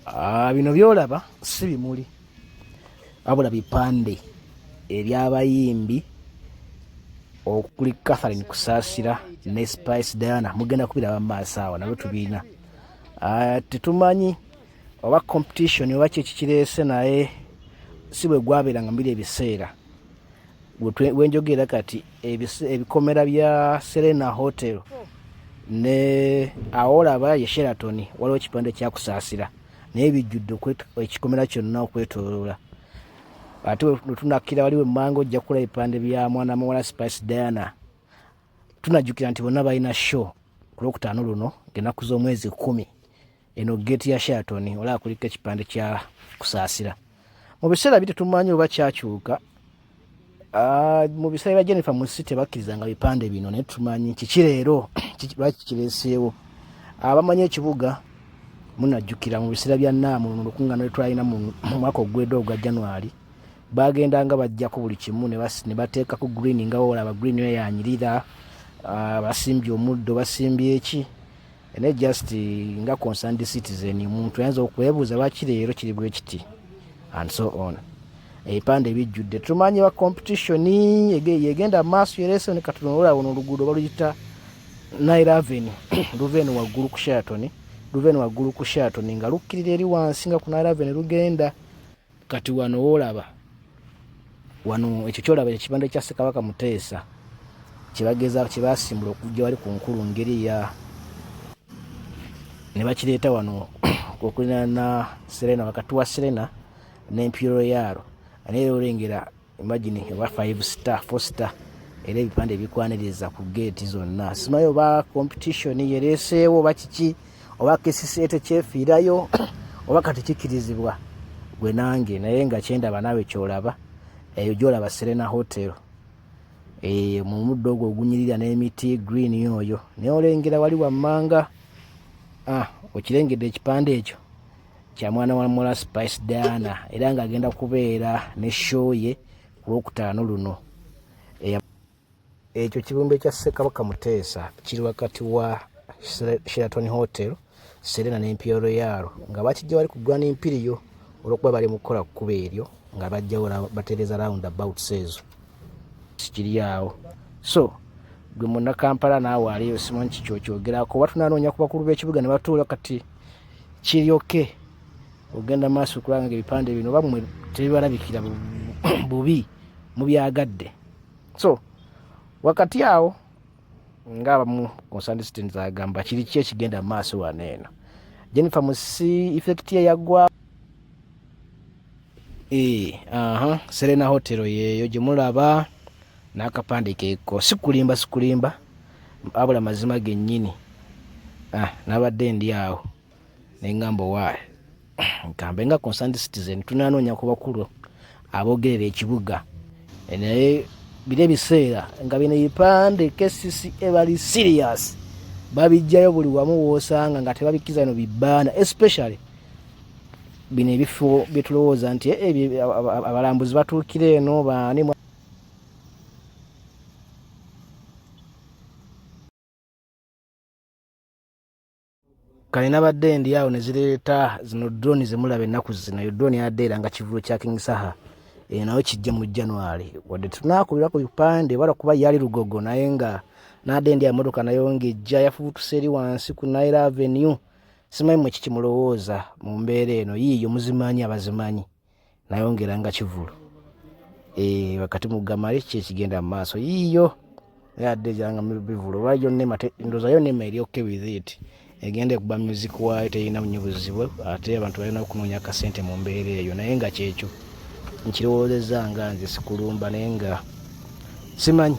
Ah, bino byolaba si bimuli wabula bipande ebyabayimbi okuli catherine kusasira ne spice diana mugenda kubiraba mumaaso awo nabyo tubiina ah, tetumanyi oba competition oba kyekikirese naye si bwe gwabeeranga mubiri ebiseera wenjogera kati ebikomera bya serena hotel ne awolaba ye sheraton waliwo ekipande kyakusaasira naye bijjudde ekikomera kyonna okwetoloola ate wetunakkira waliwo emmanga ojja kula ebipande bya mwana muwala spice diana tunajjukira nti bonna balina show ku lwokutaano luno ngenaku z'omwezi kumi eno geeti ya sheraton olaba kuliko ekipande kya kusaasira mu biseera bite tumanyi oba kyakyuka ah, mu biseera bya jennifer musi tebakkirizanga bipande bino naye tumanyi kiki leero lwaki kireeseewo abamanyi ekibuga munajjukira mu biseera bya naamu mu lukuŋŋaana lwetwalina mu mwaka ogwedde ogwa january bagendanga bajjako buli kimu ne bateekako green nga bawola aba green eyo yanyirira ah, basimbye omuddo basimbye eki ene just nga concerned citizen muntu ayinza okwebuuza lwaki leero kiri bwe kiti and so on ebipande bijjudde tumanyi ba competition yegenda maaso yeresoni katunoola wono oluguudo baluyita nairaveni luveni waggulu ku shatoni luveni waggulu ku shatoni nga lukkirira eri wansi nga ku nairaveni lugenda kati wano wolaba wano ekyo kyolaba ekibanda kya ssekabaka muteesa kyebageza kyebasimbula okujja wali ku nkulu ngeri eya ne bakireeta wano okulina na serena wakati wa serena n'empiro yaalo naye olengera imagine ewa 5 star 4 star era ebipande bikwaniriza ku geeti zonna simayi oba competition yereeseewo oba kiki oba kcca tekyefiirayo oba kati kikirizibwa gwe nange naye nga kyendaba naawe kyolaba eyo gyolaba serena hotel eh, mu muddo ogwo ogunyirira n'emiti green oyo naye olengera wali wammanga ah, okirengedde ekipande ekyo kya mwana wa mula spice diana era ng'agenda kubeera ne show ye ku lwokutaano luno ekyo kibumbe kya ssekabaka muteesa kiri wakati wa sheraton hotel serena n'empia royal nga bakijja bali ku grand impiriyo olwokuba bali mukukola kukuba eryo nga bajjawo batereza round about seezo sikiri awo so gwe munakampala naawe aliyo simanyi kikyo kyogerako oba tunanoonya ku bakulu b'ekibuga ne batuula kati kiryoke ogenda maaso okulaba nga ebipande bino oba mwe tebibalabikira bubi mubyagadde so wakati awo nga abamu concerned citizens agamba kiri ki ekigenda mu maaso wano eno jennifer musi effect ye yagwa e, aha serena hotel yeeyo gye mulaba n'akapande keeko sikulimba sikulimba abula mazima gennyini ah, nabadde ndi awo neŋŋamba owaayo nkambe nga concerned citizen tunanoonya ku bakulu abogerera ekibuga eh, naye biri ebiseera nga bino ebipande kcca bali serious babijjayo buli wamu woosanga nga tebabikkiza bino bibaana especially bino ebifo byetulowooza nti eh, abalambuzi batuukira eno baani kale nabadde ndi awo nezireeta zino drone zemulaba ennaku zino yo drone yadde era nga kivulo kya king saha eyo nayo kijje mu january wadde tunakubira ku bipande wala kuba yali lugogo naye nga nadde ndi amotoka nayo ngaejja yafubutuse eri wansi ku nile avenue simanyi mwe kikimulowooza mu mbeera eno yiiyo muzimanyi abazimanyi nayongera nga kivulu eh, wakati mugamale ki ekigenda mu maaso yiiyo yadde gyanga bivulu olwa yonna emate ndoza yonna ema eri okke withiti egenda ekuba music waayo terina nyo buzibu ate abantu balina okunoonya akasente mu mbeera eyo naye nga kyekyo nkirowoozezza nga nze sikulumba naye nga simanyi